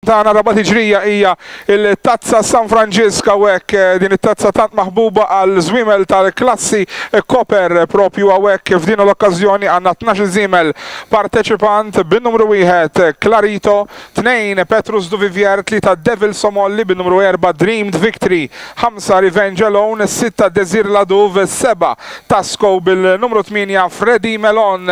tagħna Rabat Tiġrija hija il-tazza San Franġisk hawnhekk eh, din it-tazza tant maħbuba għal żwiemel tal-klassi eh, Koper eh, propju hawnhekk f'din l-okkażjoni għandna 12 żiemel parteċipant bin-numru wieħed Clarito, 2 Petrus Duvivier, 3 Devil Somolli bin-numru 4 Dreamed Victory, ħamsa Revenge Alone, sitta Désir Ladouv, seba' Tasco bil-numru tmienja Freddy Melon.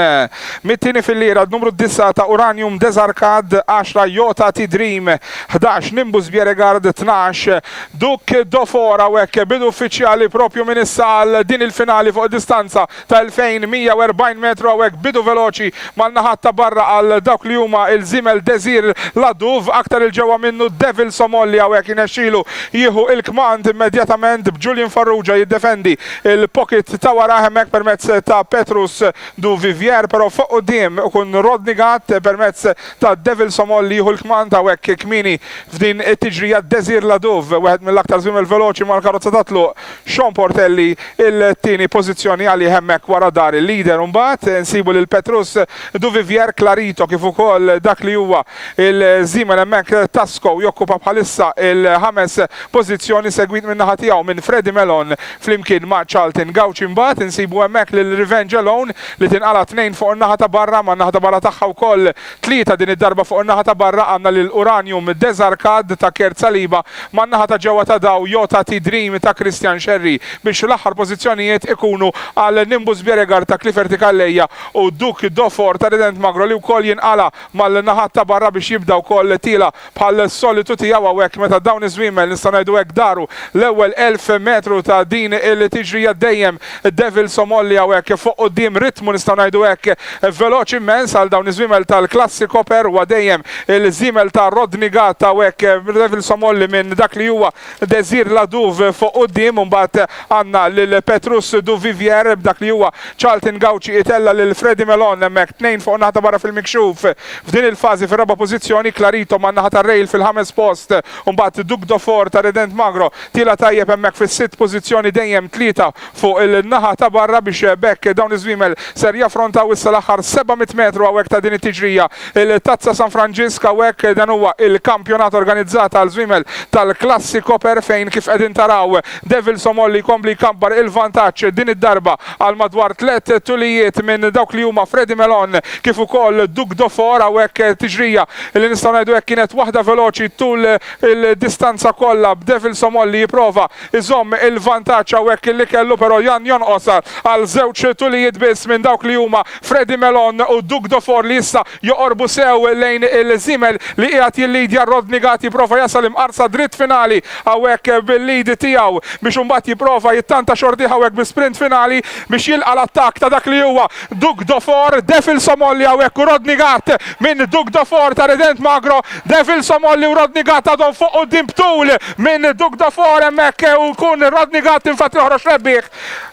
Mit-tieni fil-lira d-numru d-disgħa ta' Uranium Desarcad, għaxra Yo Tati Dream, ħdax Nimbus Bieregard, tnax Duc Dofora u hekk bidu uffiċjali proprju minn issa għal din il-finali fuq distanza ta' 2,140 metru hawnhekk bidu veloċi mal-naħat ta' barra għal dawk li huma l-żiemel Desir Ladouv, aktar 'il ġewwa minnu Devil Somol li hawnhekk jinexxilu jieħu l-kmand immedjatament b'Julian Farrugia jiddefendi l-pocket ta' warajh hemmhekk permezz ta' Petrus Duvivier però fuq quddiem ikun Rodney Gatt permezz ta' Devil Somol li jieħu l-kmand hawnhekk kmieni f'din it-tiġrija Desir Ladouv wieħed mill-aktar żwiemel veloċi mal-karozza tat-tluq Sean Portelli t-tieni pożizzjoni għalih hemmhekk wara dar il-leader u mbagħad nsibu lil Petrus Duvivier Clarito kif ukoll dak li huwa l-żiemel hemmhekk Tasco jokkupa bħalissa l-ħames pożizzjoni segwit min-naħa tiegħu minn Freddy Melon flimkien ma' Charlton Gauci mbagħad insibu hemmhekk lil Revenge Alone li tinqala' tnejn fuq in-naħa ta' barra man-naħa ta' barra tagħha wkoll Tlieta, din id-darba fuq in-naħa ta' barra għandna lil Uranium, Desarcade ta' Kurt Saliba, man-naħa ta' ġewwa ta' Daw, Yo Tati Dream ta' Christian Scerri, biex l-aħħar pożizzjonijiet ikunu għal Nimbus Bjerregard ta' Cliferti Calleja u Duc d'Eau Fort ta' Rident Magro li wkoll jinqala' mal-naħat ta' barra biex jibda wkoll tiela' bħall-solitu tiegħu hawnhekk meta dawn iż-żwiemel, nistgħu ngħidu hekk, daru l-ewwel elf metru ta' din il-tiġrija dejjem Devils Omolli hawnhekk fuq quddiem, ritmu nistgħu ngħidu hekk veloċi immens għal dawn iż-żwiemel tal-klassi Koper, huwa dejjem il-żiemel ta' Rodney Gatt hawnhekk, Devils Omolli minn dak li huwa Desir Ladouve fuq quddiem u mbagħad għandna lil Petrus Duvivier b'dak li huwa Charlton Gauci itella' lil Freddy Melon hemmhekk tnejn fuq naħa ta' barra fil-mikxuf f'din il-fażi fir-raba' pożizzjoni, Clarito man-naħa tar-rail fil-ħames post u mbagħad Duc d'Aufort ta' Redent Magro tiela' tajjeb hemmhekk fis-sitt pożizzjoni dejjem tlieta fuq il-naħa ta' barra biex b'hekk dawn iż-żwiemel ser jaffrontaw issa l-aħħar 700 metru hawnhekk ta' din it-tiġrija. Il-Tazza San Franġisk hawnhekk dan huwa il-kampjonat organizzat għal żwiemel tal-klassi Koper fejn kif qegħdin taraw Devils Omolli jkompli jkabbar il-vantaġġ din id-darba għal madwar tliet tulijiet minn dawk li huma Fredy Melon kif ukoll Duc de Fort hawnhekk tiġrija li nistgħu ngħidu hekk kienet waħda veloċi tul il-distanza kollha b'Devils Omolli jipprova Iżomm il-vantaġġ hawnhekk illi kellu però Jan jonqos għal żewġ tulijiet biss minn dawk li huma Freddy Melon u Doug Dofor li issa joqorbu sew lejn il-żiemel li qiegħed jillidja Rodney Gatti jipprova jasal imqarsa dritt finali hawnhekk bil-lead tiegħu biex imbagħad jipprova jittanta xortih hawnhekk bi sprint finali biex jilqa' l-attakk ta' dak li huwa Duc de Fort, Devil Somolli hawnhekk u Rodney Gatt minn Duc de Fort ta' Redent Magro, Devil Somolli u Rodney Gatt għadhom fuq quddiem b'tul minn Duc de Fort hemmhekk u jkun Rodney Gatt infatti joħroġ rebbieħ.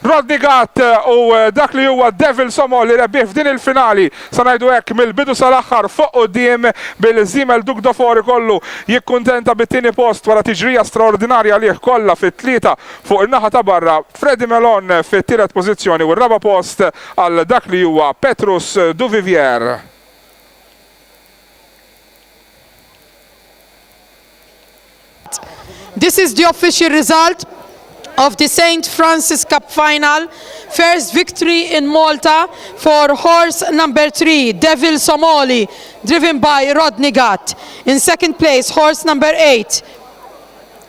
Rodney Gatt u dak li huwa Devil Somolli rebbieħ f'din il-finali sa ngħidu hekk mill-bidu sal-aħħar fuq quddiem bil-żiemel Duc de Fort ikollu jikkuntenta bit-tieni post wara tiġrija straordinarja għalih kollha fit-tlieta fuq in-naħa ta' barra. Freddy Melon fit-tielet pożizzjoni u r-raba' post għal dak li huwa Petrus Duvivier. This is the official result of the Saint Francis Cup final, first victory in Malta for horse number three Devil Somali driven by Rodney Gatt. In second place horse number eight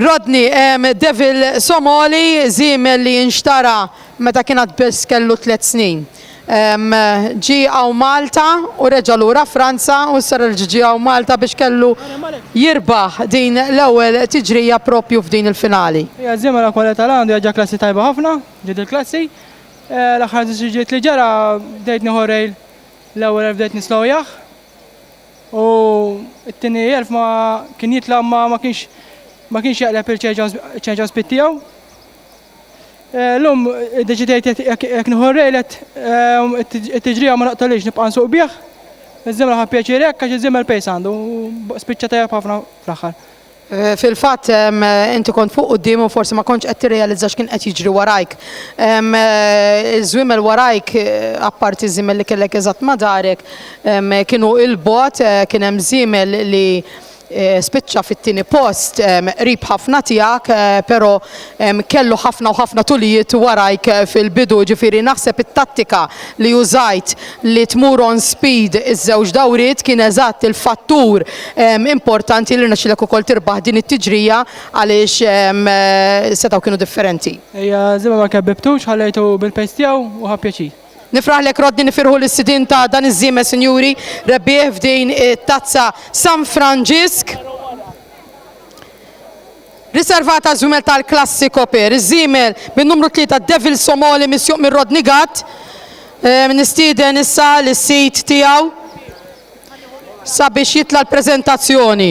Rodney, Devil Somali, żiemel li nxtara meta kien għad biss kellu tliet snin. Ġie hawn Malta u reġa' lura Franza u issa reġa' ġie hawn Malta biex kellu jirbaħ din l-ewwel tiġrija proprju f'din il-finali. Hija żiemel akwa li tal-għandu hija ġa klassi tajba ħafna, ġiet il-klassi. L-aħħar żiġiġiet li ġara bdejt nieħu r-rail l-ewwel għaliex bdejt nislowjah. U t-tieni elf ma kien jitla' ma ma kienx ma kienx jaqleb il-ċenġa spit tiegħu. Eh, lum deċidejt jekk nieħu rejlet eh, it-tiġrija ma naqtolix nibqa' nsuq bih. Iż-żemel ħa pjaċir hekk għax iż-żemel pejs għandu spiċċa tajjeb ħafna fl-aħħar. Eh, fil-fatt inti kont fuq quddiem u forsi ma kontx qed tirrealizza x'kien qed jiġri warajk. Eh, żwiemel warajk eh, apparti żiemel li kellek eżatt ma darek kienu il-bot kien hemm żiemel li spiċċa fit-tieni post qrib ħafna tiegħek, però kellu ħafna u ħafna tulijiet warajk fil-bidu, ġifieri naħseb it-tattika li użajt li tmur on speed iż-żewġ dawriet kien eżatt il-fattur importanti li rnexxielek ukoll tirbaħ din it-tiġrija għaliex setgħu kienu differenti. Ejja, żimma ma kebbibtux, ħallejtu bil-pace tiegħu u ħa pjaċir. Nifraħlek Rodney nifirħu lis-sidien ta' dan iż-żiemel sinjuri rebbieħ f'din it-Tazza San Franġisk. Riservat għaż-żwiemel tal-klassi Copper, iż-żiemel bin-numru tlieta Devil Somali misjuq minn Rodney Gatt. Nistieden issa lis-sid tiegħu sabiex jitla' l-preżentazzjoni.